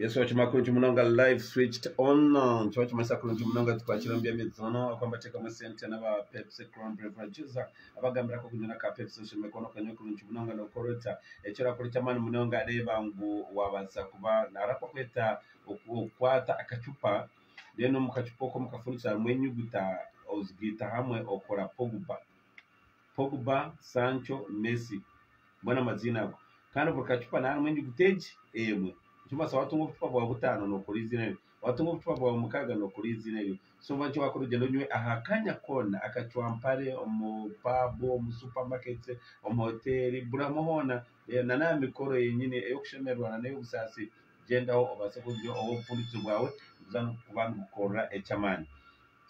Yesu wakima kurungi munonga live switched on nikyo wakimanyisa kurungi munonga tukwakira omu by'emizono ahu nibateekamu esente n'aba pepsi crown beverages abagambira kokunywa n'aka pepsi oshemwe kuba nokanywa kurungi munonga nookora ota eki orakora eky'amaani munonga reeba ngu waabaasa kuba nari aku bakweta okukwata akacupa then omu kacupa oko omu kafundikizo harimu enyuguta ozigaita hamwe okora pogba. Pogba, Sancho, Messi, mbwenu amaziina ago kandi buri kacupa niha harimu enyuguta egi emwe nikimbaasa watunga obucupa bwawe butaano nokora eiziina eryo watunga obucupa bwawe mukaaga nokora eiziina eryo so oba nikyo wakora ogyende onywe aha kanya koona akacwampare omu paabu, omu supamaketi, omu hoteeri buri hamwe hoona na n'aha mikoro yenyini ey'okushemererwa na n'ey'obusaasi gyendaho obaase kugira obufundikirizo bwawe kuza kuba nigukukorera eky'amaani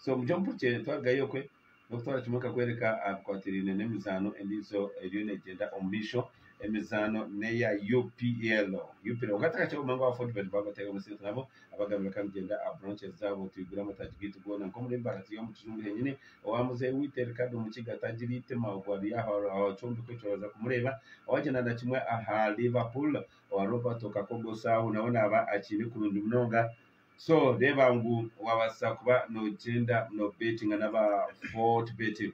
so mugye omumpurikire twarugayo okwe. N'okutwara kimwe nka kworeka aha bikwatiraine n'emizaano endiijo eriyo neegyenda omu maisho. Emizaano n'eya UPL. UPL. Kwonka tihakiriho munonga wa Fortbet baaba batari omu Centre nabo abagambira ka nigyenda aha branches zaabo twigure amataagi gaitu goona. Nk'omurembe ahariyo omu kizungu henyini. Owa muzeeyi waitu Ricardo Mukiga atagira eitima ogwo ari aho aha kyombeko ekyo oraaza kumureeba. Owaagyenda na kimwe aha Liverpool owa Roberto Kakogo Saho nawe naaba akiine kurungi munonga So reeba ngu wabaasa kuba nogyenda no betinga naba fort betting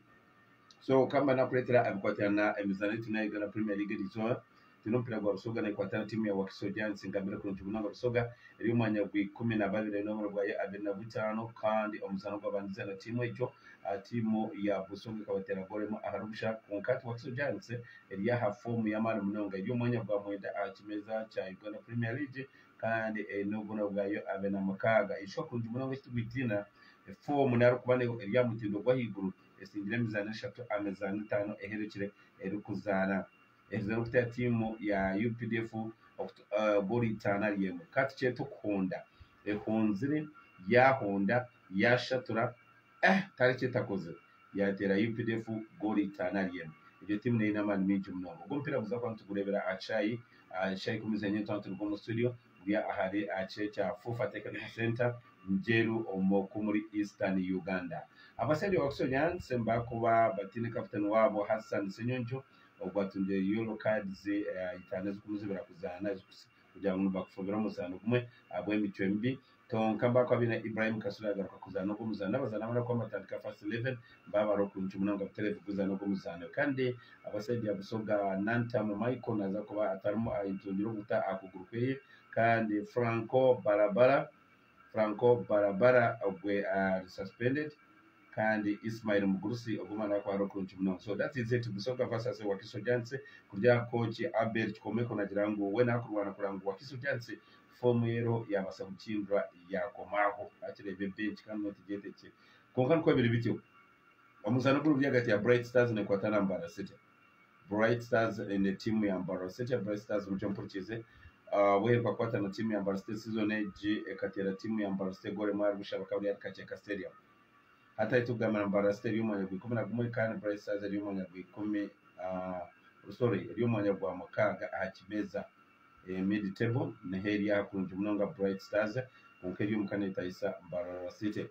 so kamba nakureetera abikwatirana na emizaano ei twine aha Uganda Premier League egi izooba twine omupiira gwa Busoga nekwata na tiimu ya Wakiso Giants ngambire kurungi munonga Busoga eri omu mwanya gwa ikumi na babiri eine oburo bwayo abiri na butaano kandi omuzaano ogu babandize na tiimu egyo aha tiimu ya Busoga ekabateera goolo emwe ahari busha kwonka hati Wakiso Giants eri aha foomu y'amaani munonga eri omu mwanya gwa mwenda aha kimeeza kya Uganda Premier League kandi eine obubonero bwa U abiri na mukaaga. Ishwa kurungi munonga ekitugwitiina, efoomu n'arikuba neho eri aha mutindo gw'ahaiguru, esingire emizaano eshatu aha mizaano etaano eherekire erikuzaana. Eherize n'okutayo tiimu ya updf goolo itaano ahari emwe. Ka tukyete okuhonda. Ehonzire, yaahonda, yaashatura, Eh tari ki etakozire yateera updf goolo itaano ari emwe. Egyo tiimu neine amaani maingi munonga. Ogu omupiira guza kuba nitugureebera aha kishaayi aha shaayi ikumi z'enyima nitwaba nituruga omu studio guri ahari aha kishaayi kya FUFA Technical Centre Njeru omu ku muri Eastern Uganda. Abasaija ba Busoyansi nibakuba bataine kapiteeni waabo Hassan Senyonjo ogu atungire yolo kaadizi itaano ezirikumuzibira kuzaana kugira ngu nibakufubira omuzaano gumwe ahabw'emicwe mibi Tonka mba kwabiire Ibrahim Kasule agaruka kuzaana ogu omuzaano abazaani abandi abakuba nibatandika First Eleven mba bari okuncu munonga butereevu kuguzaana ogu omuzaano kandi aba saidi ya Busoga Nantamu Michael naza kuba atarimu ayetungire obuta aha kuguru kweye kandi Franco Barabara Franco Barabara ogwe ari suspended kandi Ismail Mugurusi ogwo omwana wakuba ari okuncu munonga so that is it Busoga versus Wakiso Giants kurya kooki Abel Kikomeko nagira ngu we nakurwana kureba ngu Wakiso Giants Foomu reero yaabaasa kukingura yaakoma aho. Naakireeba ebenki kandi nootugyeta ekye. Kwonka nikwo biri bityo. Omuzaano guriburi ahagati ya Bright Stars nekwata na Mbarara City. Bright Stars eine tiimu ya Mbarara City. Bright Stars nikyo mpurikiize ahabw'oheruka kukwata na tiimu ya Mbarara City season egi ekateera tiimu ya Mbarara City egoora emwe ahari busha bakaba bari ahari Kakyeka Stadium. Hati ahi turikugambira Mbarara City eri omu mwanya gwa ikumi na gumwe kandi Bright Stars eri omu mwanya gwa ikumi sorry eri omu mwanya gwa mukaaga aha kimeeza. Mid-table niho eri aha kurungi munonga Bright Stars kwonka eri omuka netayisa Mbarara City.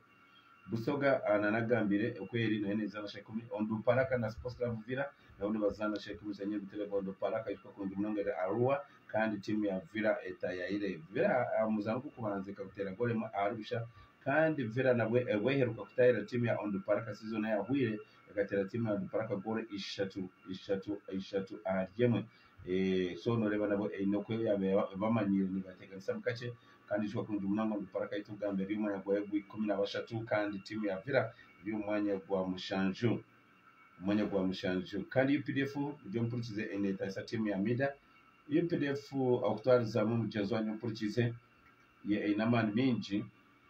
Busoga nanagambire oku eri nayo nezaana sha ikumi. Onduparaka na Sports Club Uvira nabo nibazaana sha ikumi sha Nyabitebe. Onduparaka ayijuka kurungi munonga eri Arua kandi tiimu ya Villa etayayire. Villa aha muzaano gw'okubanza ekaguteera goolo emwe ahari busha kandi Villa nabwo obweheruka kutayira tiimu ya Onduparaka season eyahweire ekateera tiimu ya Onduparaka goolo ishatu ishatu ishatu ahari emwe. So noreeba nabo eyine oku eryabe ebamanyire nibateganisamu kakye kandi nikikura kurungi munonga ngu Paraka yitu kugamba eri omu mwanya gwayo gwa ikumi na bashatu kandi tiimu ya Villa eri omu mwanya gwa mushanju omwanya gwa mushanju kandi updf muryo omupurikize enetayisa tiimu ya Mida updf okutwarizamu mugyenzi wanyu omupurikize ye eyine amaani mingi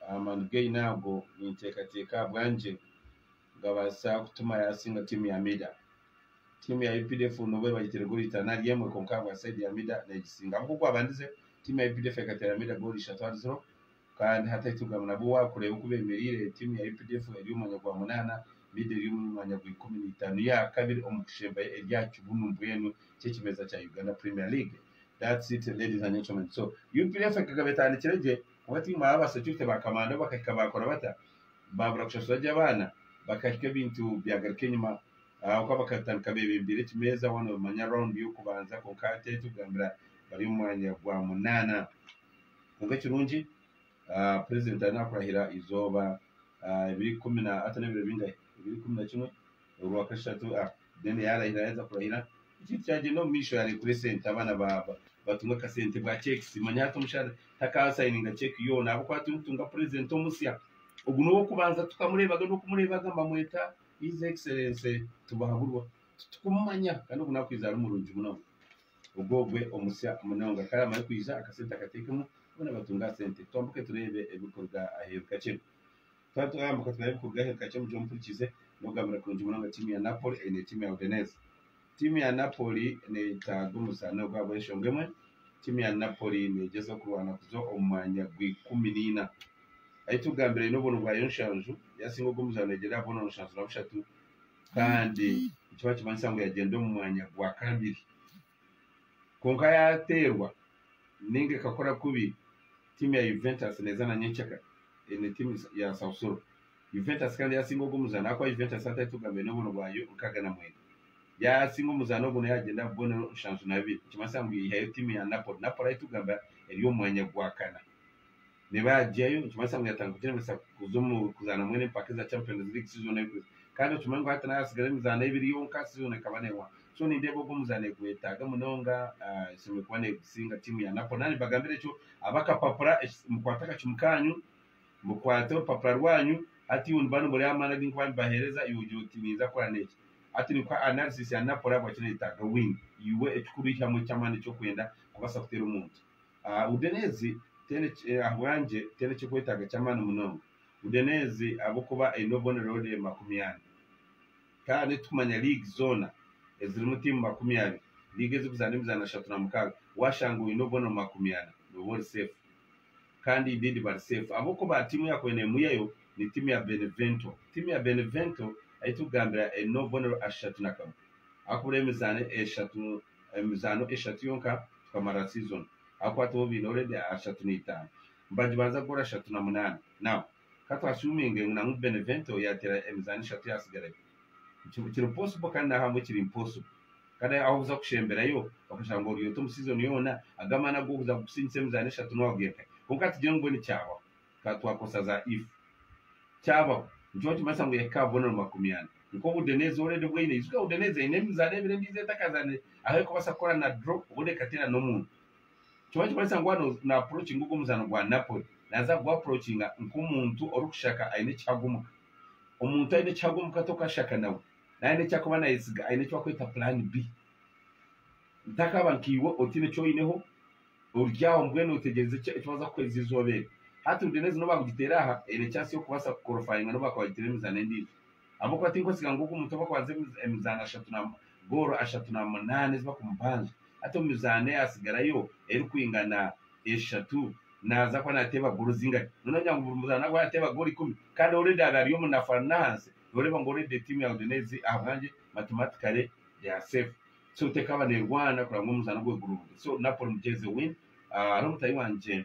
amaani gu eyine ago ninteekateeka ahabwangye gabaasa kutuma yasinga tiimu ya Mida. Tiimu ya updf nobu ebahitirwe goolo itaano ari emwe kwonka ahabwa saidi ya Mida neegisinga. Nk'oku kwabandize, tiimu ya updf ekateera Mida goolo ishatu ahari ziro kandi hati ahitugamire nabwo waakureeba oku beemereire, tiimu ya updf eri omu mwanya gwa munaana, Mida eri omu mwanya gwa ikumi na itaano yaakabiri omu kushempa eri aha kibunu mbwenu ky'ekimeeza kya Uganda Premier League. That's it ladies and gentlemen so updf ekagaba etandikire gye kuba tiimu aba aba security ba kamanda bo bakahika baakora bata? Baabura kushashura gye abaana bakahika ebintu byagaruka enyima Ahabw'okuba bakatandika beebembeire ekimeeza, waaba noomanya raawundi y'okubanza kwonka hati ei turikugambira bari omu mwanya gwa munaana. Kwonka ekirungi purezidenti ariyo naakurahira eizooba ebiro ikumi na hati n'ebiro bingahe? Ebiro ikumi na kimwe orwakashatu then yaarahira yaaheza kurahira ekintu kyagyenda omu maisho yaareekurwa esente abaana batunga akasente bwa cheques manya hati omushaija takaasayininga cheque yoona ahabw'okuba turiyo nitutunga purezidenti omusya. Ogu n'ow'okubanza tukamureebaga n'okumureebaga mbamweta His Excellency Tibuhaburwa titukumumanya kandi ogu nakwiija ari murungi munonga ogwogwe omusya munonga kare amare kwija akasente akatekemu boona batunge aha sente twambuke tureebe ebikuruga aheeru kakye twaba twayambuka tureebe ebikuruga aheeru kakye mugye omuhurikize nogambira kurungi munonga tiimu ya Napoli eine tiimu ya Udinese Tiimu ya Napoli neetaaga omuzaani ogwo ahabw'enshonga emwe. Tiimu ya Napoli neegyezaho kurwana kuza omu mwanya gw'ikumi naina. Ahi tugambira aine obwono bwa yonshanju, yaasinga ogwo muzaani oigyirire aha bwono nshanju na bushatu kandi nikiba nikimanyisa ngu yaagyenda omu mwanya gwa kabiri. Kwonka yaateerwa nainga ekakora kubi, tiimu ya Juventus neeza na nyenkyakare, eine tiimu ya Sassuolo. Juventus kandi yaasinga ogu omuzaano ahakuba Juventus atari etugamire n'obuntu bwayo nkaaga na mwenda. Yaasinga omuzaano ogu nayo yaagyenda aha bubonero nshanju na bubiri nikimanyisa ngu yaihayo tiimu ya Napoli. Napoli ahu tugamba eri omu mwanya gwa kana. Neeba yaagyayo nikimanyisa ngu yaatandika kugyebembesa kuza omu kuzaana mbwenu empaka eza Champions League si zoona erikuza. Kandi okimanye ngu hati nayo hatsigara emizaano ebiri yonka si zoona ekaba neehwaho. So nindeeba ogu omuzaano egwetaaga munonga, eshemereire kuba neegusinga tiimu ya Napoli. Naanye mbagambira ekyo ab'akapapura, mukwate akacumu kaanyu Mukwate orupapura rwanyu, hati iwe niba nomureeba amaani agu nkuba nimbaheereza, iwe ogira oti ninza kukora n'eki. Hati ni kuha analysis ya Napoli ahabwaki nayetaaga wing. Iwe ekikuru yihamu eky'amaani eki okwenda kubaasa kuteera omuntu. Udinese teine ahabwangye teine ekyokwetaaga ky'amaani munonga. Udinese ahabw'okuba eine obubonereho rye makumi ana. Kandi tikumanya liigi zoona ezirimu tiimu makumi abiri. Liigi ezirikuzaana emizaano ashatu na mukaaga. Washanga oine obubonero makumi ana, nooba ori seefu. Kandi i did bari safe ahabwokuba tiimu ya Kwenemuyayo ni tiimu ya Benevento. Tiimu ya Benevento ei turikugambira eine obubonero ashatu na kamwe ahabw'okubura emizaano eshatu emizaano eshatu yonka tukamarira season ahabw'okuba tibo baine already ashatu na itaano. Nibagibanza kugora ashatu na munaana. Now. Ka tu assuminge ngu nangwa Benevento yatera emizaano eshatu eyatsigarayo. Nikyo kiri possible kandi n'ahamwe kiri impossible. Kandi ahu okuza kushemberayo okashanga ngu ori ota omu season yoona, ago amaani ag'okuza kugusiingisa emizaano eshatu nooba ogenkayo. Kwonka tugire ngu mbwenu kyabaho, tukaba twakoresa za if. Kyabaho, nikyo bakimanyisa ngu eka bubonero makumi ana. Nk'obu Udinese already obu eine, ijuka Udinese eine emizaano ebiri endiijo etakazaanire, ahu erikubaasa kukora na draw obundi ekateera n'omuntu. Nikyo orikubaasa kugira ngu waaba naapurocinga ogwo muzaano gwa Napoli, naaza kugwapurocinga nk'omuntu orikushaka aine ekihago omu ka. Omuntu aine ekihago omu ka tokashaka nawe. Naaba aine eki arikuba naayetsiga aine eki barikweta plan B. Ntakaba nkaiwe otiine eki oineho, ori aho mbwenu otegyerize ki eki baaza kukuheereza eizooba eryo. Hati Udinese n'obu baakugiteera aha, eine chansi y'okubaasa kukorofayinga n'obu bakuba baagiteera emizaano endiijo. ahabw'okuba tinkutsiga ngu ogu omuntu obu akwaza emizaano ashatu na goolo ashatu na munaana ezi bakumubanja, hati omu mizaano eyatsigarayo erikwingana eshatu naaza kuba naateeba goolo zingari? Noneho noogira ngu buri muzaano naaza kuba naateeba goolo ikumi? Kandi already abe ari omu nafara n'ahansi, nooreeba ngu already tiimu ya Udinese ezi ahabwangye mathematically they are safe. So tekaaba neerwana kureba ngu omuzaano gwe gurungi. So Napoli mugyenzi win. Hariho mutaahi wangye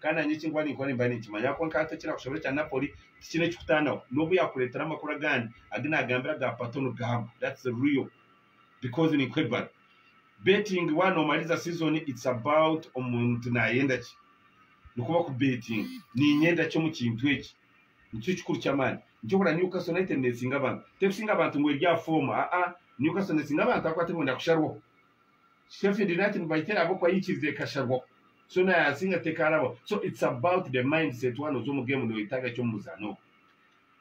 Kandi nanye eki nkuba ninkora nimba ninkimanya kwonka hati ekirakushobera ekya Napoli tikine kikutanaho nobu yakuretera amakuru agandi agi nagambira aga pato nigago that's real because ninkwebara betting wa nomariza season it's about omuntu nayenda ki nikwo baku betting ninyenda ki omu kintu eki nikyo kikuru kyamani nikyo ohurira Newcastle United nesinga abantu terikusinga abantu ngu eri aha form aa Newcastle nesinga abantu ahabwokuba terikuhondera kusharwaho. Stephanie did not invite her ahabw'okuba yaikiriza ekasharwaho. So na Yasinga tekaarabaho. So it's about the mindset waaba nooza omu game nooyetaaga ki omu muzaano ogwo.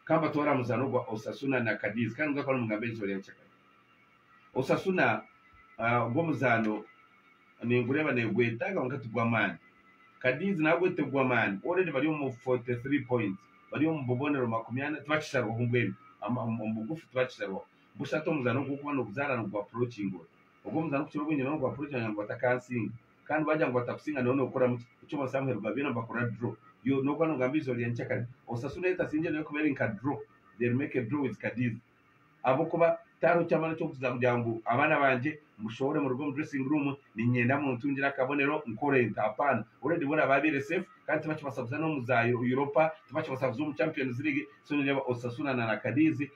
Ka mbatware aha muzaano gwa Osasuna na Cadiz kandi ningaruka nimugamba eriizooba rya kyakara. Osasuna ah, ogwo omuzaano ningureeba neegwetaaga kwonka tigw'amaani. Cadiz naagwo tigw'amaani. Already bari omu 43 points. Bari omu bubonero makumi ana tibakisharwaho mbwenu. Ama- Omu bugufu tibakisharwaho. Bushatu omuzaano ogu orikuba nooguzaana nigu approachinga ori. Ogwo muzaano kukira obwingi nawe nigu approachinga ngu batakansinga. Kandi baagira ngu batakusinga nawe nookoramu ki? Eky'okubanza Samuheri gwa byona nibakorera draw. Yo n'okuba noogamba eizooba rya nyekyakare. Osasura eyo etasingire nayo ekuba eri nka draw. They'll make a draw with Kadiza. Ahabw'okuba tihariho kyamara eki orikuza kugira ngu abaana bangye mbushohore muruge omu dressing room, niinyenda muntungire akabonero nkore nta. Hapaana. Already boona baabaire safe kandi tibakibaasa kuza n'omu za Europa, tibakibaasa kuza omu Champions League. So niireeba Osasuna na na Kadiz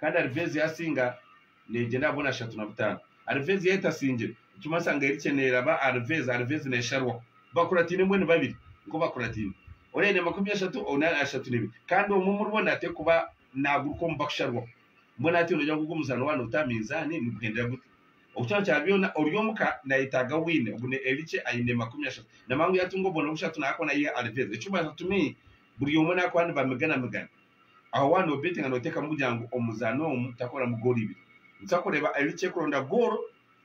kandi Alvezi yaasinga neegyenda aha boona ashatu na butaano. Alvezi yaaba etasingire, nikimanyisa ngu Erikye neeraba Alvezi, Alvezi neesharwa. Bakurataine mbwenu babiri nikwo bakurataine. Ori aine makumi ashatu, ondi ashatu n'ebiri. Kandi omwe omuri bo nateeka kuba naaguruka omu bakusharwa. Mbwenu hati noogira ngu ogwo muzaano waaba niguta aha minzaani niguhendera gute? Okukira kya byona, ori omuka naayetaaga wiini. Ogu ni Erikye aine makumi ashatu. Namangu yaatunga obuboona bushatu naakora naiha Alvezi. Ekirikumanyisa ngu to me buri omwe naakuba nibameganamegana. Aho waaba noobeetinga nooteekamu kugira ngu omuzaani omu taakuuramu goolo ibiri. Nikitwa kureeba Erikya erikuronda goolo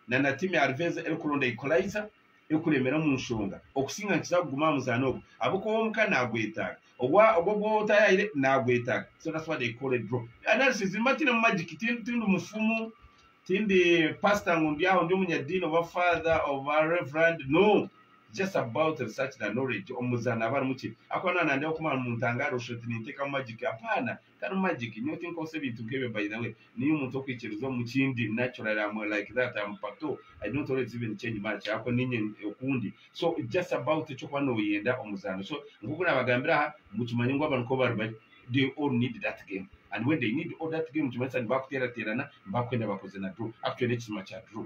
na na tiimu ya Ruveza erikuronda ikulaiza erikureemera omu nshonga. Okusinga nikiza kuguma aha muzaani ogwo ahabw'okuba ow'omuka naagwetaaga, ogwo ogwo otaayahaire naagwetaaga. So that's why they call it draw. Analysis egi mbateiremu magic, tindi mufumu, tindi paasita ngu ndi aho ndi omunyadiini oba faatha oba reverand, no! Just about research na knowledge omu muzaano aba arimu ki akuba naba nandeeba kumara omu ntangaro oshusha oti nintekamu magic apaana tari magic nyowe tinkozesa ebintu nkebyo by the way niinye omuntu okwikiriza omu kindi naturally am like that am pato I don't always even change much ahabwokuba niinye okundi so it's just about ekyokuba noyenda omuzaano so nkoku nabagambira aha ngu kimanye ngu abantu nkobari bari they all need that game and when they need all that game nikimanyisa nibakuteerateerana nibakwenda bakoze na draw actually nekisima kya draw.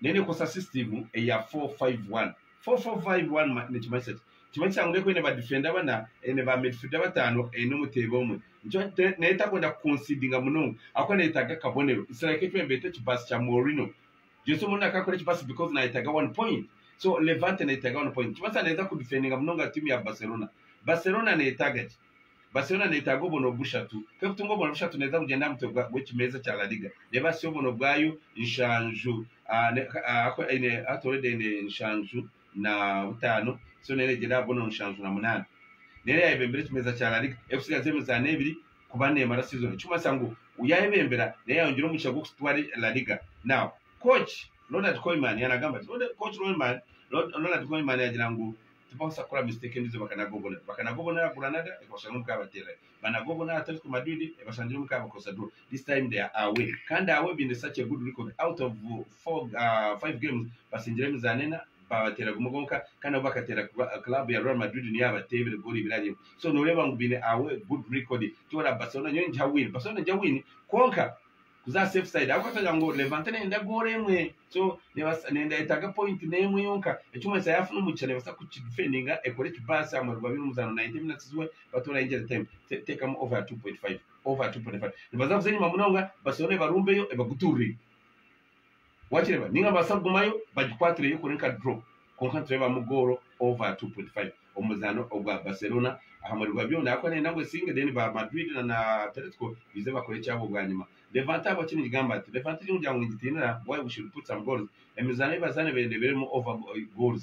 Nayo nekozesa system eya four five one. Four four five one ma nikimanyisa ki? Nikimanyisa ngu neku eine ba defender bana, eine ba midfielder batano, eine omuteebi omwe. Nikyo te nayo etakwenda ku concedinga munonga ahakuba neyetaaga akabonero. It's like ekyo nibeeta ekibaasi kya Mourinho. Jose Mourinho akakora ekibaasi because nayetaaga one point. So Levante neyetaaga one point. Nikimanyisa neeza ku defendinga munonga team ya Barcelona. Barcelona neyetaaga ki? Basi yoona neetaaga obwono bushatu. Kw'ekutunga obwono bushatu neeza kugyenda aha mutwe gw'ekimeeza kya La Liga. Reeba hasi obwono bwayo nshanju ahaku eine Athleed eine nshanju na butaano, so neyo neegyenda aha bwono nshanju na munaana. Neyo yaayebembera ekimeeza kya La Liga erikutsigaza emizaano ebiri kuba neemara siizoni. Ekirikumanyisa ngu yaayebembera neyo yaayongyera omugisha gw'okutwara La Liga. Now, kooci Ronald Koeman yaanagamba ati, kooci Ronald Koeman yaagira ngu, Tibabaasa kukora mistake endijo bakanaga obubonero. Bakanaga obubonero aha Granada ekabashanga omu ka baterera. Banaga obubonero aha Atletico Madrid ebashangire omu ka bakozesa draw. This time they are away kandi away baine such a good record out of four, uh, five games batsindire emizaano ena babateera gumwe gwonka kandi nabo bakateera club ya Real Madrid niyo yabateebire goal ibiri ahari emwe. So noreeba ngu baine away good record. Tiworaba Barcelona nyowe ningiha win. Barcelona nigiha win kwonka kuza safe side ahabwokuba twagira ngu Levante neyenda goal emwe so nebasa neyenda yetaaga point n'emwe yonka ekirikumanyisa yaafuna omugisha nebasa kukidefendinga ekore ekibaasi ahamwe rwabaire omuzaano 90 minutes we batoraho injury time teekamu over 2.5 over 2.5 nibaza kuza enyima munonga Barcelona ebarumbeyo ebagutuurire. Wakireba ninga nibabaasa kugumayo bagikwatire yo kuri nka draw kwonka nitureebamu goolo over 2.5 omu muzaano ogwa Barcelona aha mweri gwa byona ahabw'okuba neeyenda ngu esinge then ba Madrid na na Atletico baije bakore ekyabo bwanyima. Levante ahabwaki ningigamba nti Levante egi muryango ningitiinira why we should put some goals emizaano ei bazaane beende ebeeremu over goals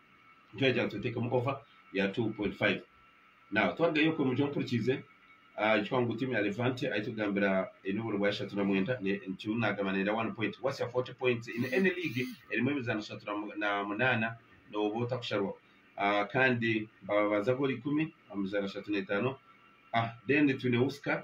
nikyo yaagira ngu tuteekemu ova ya 2.5. Naawe twarugayo okwe mugye ompurikiize, ahaikyo wangu tiimu ya Levante ahitugambira eine oburo bwa ishatu na mwenda, nikyo naagamba neenda one point watsya 40 points in any league erimu emizaano ishatu na munaana nooba otakusharwa kandi bababanza goolo ikumi omu mizaano ashatu na etaano, ah then twine Uska.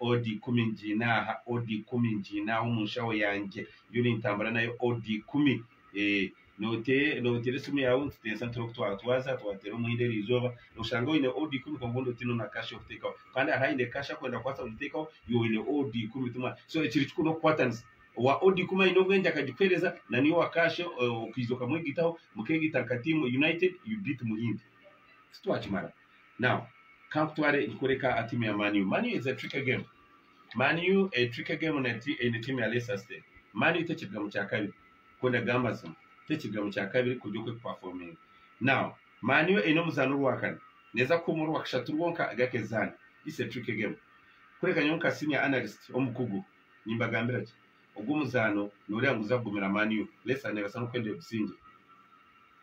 Odi ikumi ngiine aha, odi ikumi ngiine aha omu nshaho yangye, ndiyo nintambura nayo odi ikumi. Eeh, noteera esimu yaawe nituteesa nitureeba oku twatwaza, twateera omuhendo eri izooba, noshanga oine odi ikumi kwonka obundi otiine na kasha y'okuteekaho. Kandi hariho aine kasha arikwenda kubaasa kugiteekaho, iwe oine odi ikumi timwaine. So ekiri kikuru n'okukwatanisa. Owa odi ikumi aine obwengye akagikuheereza, naiwe owa kasha okaija okamwegaitaho, mukeegaita nka tiimu, united you beat Muhindi. Titwakimara? Now kankutware nkukoreka a team ya Man U. Man U is a tricky game. Man U a tricky game na ti eine team ya Leicester City. Man U tekiruga mu kya kabiri. Ku ndakugamba amazima tekiruga mu kya kabiri kurya oku ekuperforminga. Now Man U eine omuzaani orwakana neeza kuhuma orwakashatu rwonka agakezaane. It's a tricky game. Kureka nyowe nka senior analyst omukugu. Nimbagambira gye, ogu omuzaano noreeba niguza kugumira Man U. Leicester nebasa n'okwenda egusingye.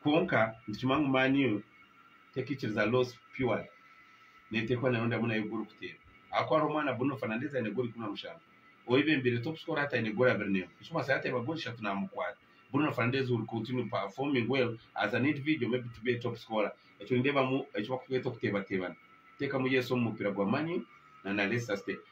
Kwonka nitukimanya ngu Man U tekikiriza loss purely netekwa nayo ndamu nayo goal kuteera ahakuba hariho omwana Bruno Fernandes aine goal ikumi na mushanju owu bembeire top scorer hati aine goal abiri n'emwe nikimanyisa yaba ateeba goal ishatu namukwata. Bruno Fernandes will continue performing well as an individual maybe to be a top scorer ekyo nindeebamu eki bakweta okuteebateebana. Teekamu yes omu mupiira gwa Man U na na Leicester City.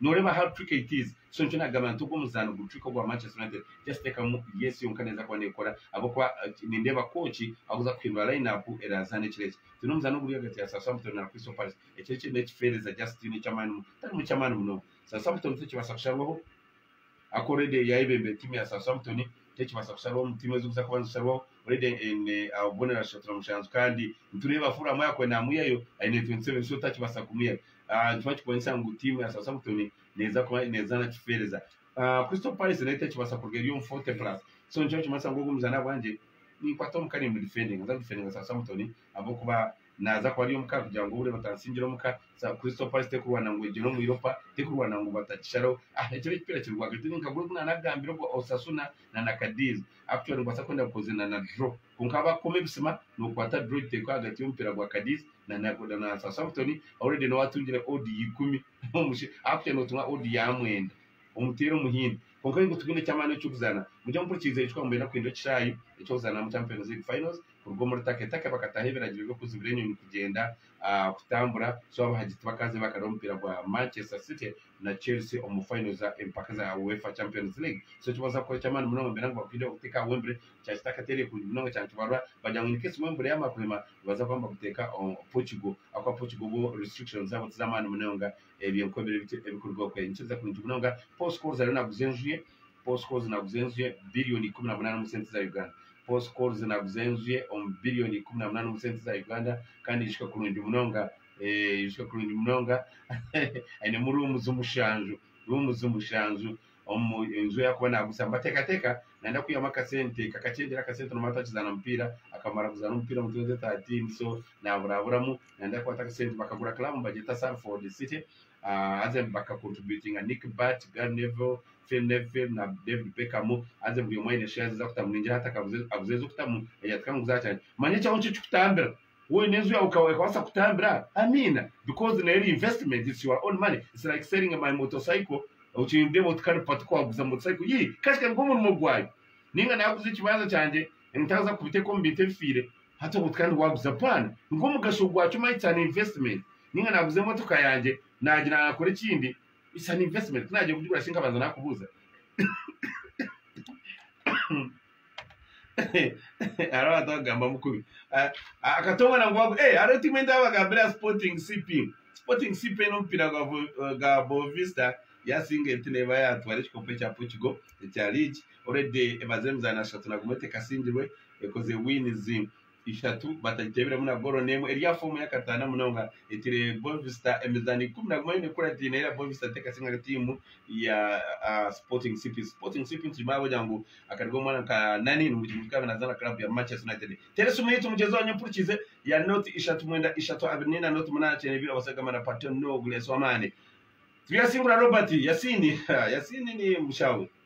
Noreeba aha rucwiko it is so nikyo nagamba nti ogu omuzaano gurucwiko ogwa Manchester United just tekamu yes yonka neza kuba nekora ahabwokuba nindeeba coach akuza kuhindura line up erazaana ekiro eki twine omuzaano oguri ahagati ya Southampton na Crystal Palace ekiro eki nekifeereza just tihaine ekyamaani tiharimu kyamaani munonga Southampton tekibaasa kusharwaho Aku already eri ayebembire team ya Southampton tekibasa kusharwaho omu team ezikuza kuba nizikusharwaho already en ahobubonero ashotera mushanju kandi nitureeba afuru ahamwe ahakuba namuyayo ayine 27 so takibasa kumuyayo ahh nikyo bakikonyesa ngu team ya Southampton neza kuba nezana kifeereza ahh Crystal Palace nayo tekibasa kuruga eri omu 40 plus so nikyo bakimanyisa ngu ogu omuzaani ahabwangye ninkwata omuka nimudifendinga nza kudifendinga Southampton ahabwokuba naza kuba ari omuka kugira ngu obure batansingire omuka za crystal palace tekurwana ngu egyere omu europa tekurwana ngu batakisharaho ah ekyo n'ekipiira kiri rwagati ni nka guri ogu naanagambire ogwa osasuna na na cadiz actually nibaasa kwenda kukoze na na draw kwonka ahu baakukoma ebisima nookwata draw ekiteekwa ahagati y'omupiira gwa cadiz na na na na southampton already niwe atungire odd ya ikumi omushe actually nootunga odd ya mwenda omuteera omuhini kwonka ahi ngu tugine eky'amaani eky'okuzaana mugye mumpurikiiriza ekyo twaba nikwenda kukora ekishaayi eky'okuzaanamu champions league finals kuruga omuri taketake bakataho ebiragiro by'okuzibira enyonyi kugyenda, kutambura so abahagi tibakaaze bakareba omupiira gwa Manchester City na Chelsea omu fayino za empaka za UEFA Champions League. So eki booza kukora eky'amaani munonga nibagira ngu bakwiriire kuteeka aha Wembley kya kitaka teri ekungi munonga kya nkibarura bagira ngu inkesi Wembley yaamara kurema nibaza kuba nibaguteeka Portugal ahabw'okuba Portugal bo restrictions zaabo tiz'amaani munonga ebyo nk'obu biri bityo ebikuruga okwe. Nikiza kurungi munonga Paul Scholes ariyo naaguza enju ye. Postcodes naguza enju ye billion ikumi na munana omu sente za Uganda Postcodes naguza enju ye omu billion ikumi na munana omu sente za Uganda kandi aijuswe kurungi munonga eh, aijuswe kurungi munonga ainemu rooms mushanju rooms mushanju omu enju ei arikuba naaguza mbateekateeka nayenda kwihamu akasente kakakyendera akasente noba atakizaana mupiira akamara kuzaana omupiira omu twendi thirteen so naaburaburamu nayenda kukwata akasente bakagura club nibagyeta Salford City Haza ebi baka contributinga Nick Butt, Gary Neville, Phil Neville na David Beckham haza buri omwe aine shares ez'akutamu ningira hati akabuze abuze ez'okutamu eyatika ngu zakyanya manya ekyawe nikyo kikutambira woine enju yawe eka ekabasa kutambira amiina because neyo eri investment it's your own money it's like selling my motorcycle okyendeba oti kare pati ku waguza motorcycle yii kashika nigwo murimo gwayo ninga naguza ekibanza kyangye ntaza kubiteka omu bintu ebifiire Hati obu kandi waaguza paani nk'omugasho gwakyo omanya eki an investment ninga naaguza emotoka yangye naagira naakora ekindi it's an investment ku naagira kugigura shi nkabanza naakubuuza hariho abantu abagambamu kubi Ah, ah, akatongana ngu wagu- eh, hariho tiimu endi abagambira ya sporting cp sporting cp n'omupiira gwa Vo- eh, gwa bovista yasinga enti neeba yatwara ekikopo ekya portugal ekya league already emaze emizaano ashatu naguma etekasingirwe ekozirwe winizi ishatu batagiteebiremu na goolo n'emwe eri aha foomu ey'akataano munonga etiire Boavista emizaano ikumi na gumwe yoona ekuratine era Boavista teekatsya nka tiimu ya Sporting CP. Sporting CP nitugimayo ahabw'okugira ngu akari k'omwana nka Nani ngu kiri kukaba naazaana club ya Manchester United. Teresi Muhiti mugyenzi wanyu mpurikiize ya Note ishatu mwenda ishatu abiri n'ena Note munaana kyenda ibiri abasaija gamba na Paton Nogles w'amaani. Turyasingura Robert Yasiini Yasiini ni mushaawe.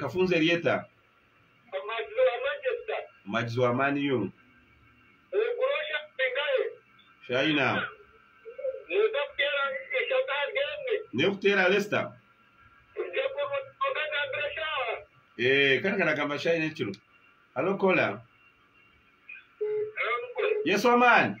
Kafunzo eri eta? Omuhagizi wa Man U. China. N'erikuteera Leicester. Kare karagamba China ekiro. Hello caller. Yes wa man.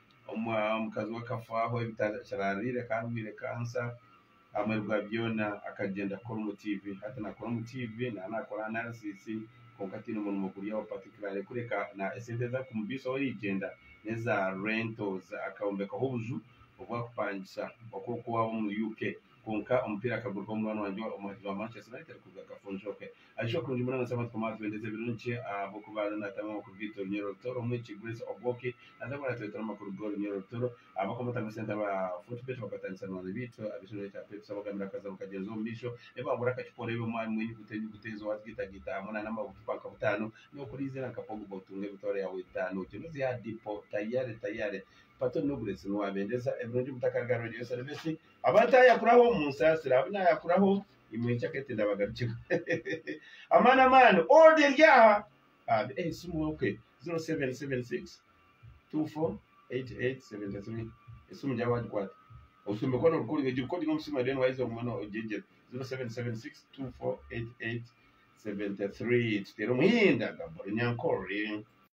Omukazi we akafaaho ebitakiraarwaire akaba arwaire kansa. Ahamurwi gwa byona akagyenda kukora omu tiivi. Hati naakora omu tiivi naaba naakora anarisis kwonka ataine murimo guryaho patikiraare kureka esente ezi arikumubiisaho origyenda n'eza rentozi. Akayombekaho obuju obu arikupangisa oku oku waaba omuri UK. kwonka omupiira akagurwaho munwaani wangye omuhagizi wa Manchester United kuruga Kafunjoke. Aisha okurungi munonga nitushaba Mukama waatwendeza ebirungi ahabw'okuba araba naataamu amakuru gaitu Orunyoro Rutoro omwegi Grace Obwoki naza kuba naatureetera amakuru g'Orunyoro Rutoro. Abakwomota mu sente aba Fortebet bakatandisa banwaani baitu ab'eishomeera rya Peps abagambira akazabu kagyenzi omu maisho nibabura akacupa oreebe omwami mu enyuguta enyuguta ezo waazigaitagaita hamwe na n'amabucupa nka butaano n'okuriizira nka Pogba otunge emitwaro yaawe etaano ogyende ozihe aha dipo tayare tayare Pato Nugrets niwaabendeza ebirungi mutakaruga Rwedi Yosarebesi Aba ntayakuraho munsaasire abu nayakuraho imwe enkyakare tindabagarukira amaani amaani order eri aha Amen eh esimu ok 0776248873 esimu gyawe wagikwata oshumbe ku orikuba oriyo egi recording omu simu eri then waija ogume ogyegyere 0776248873 tuteere omuhinda gabura enyankore.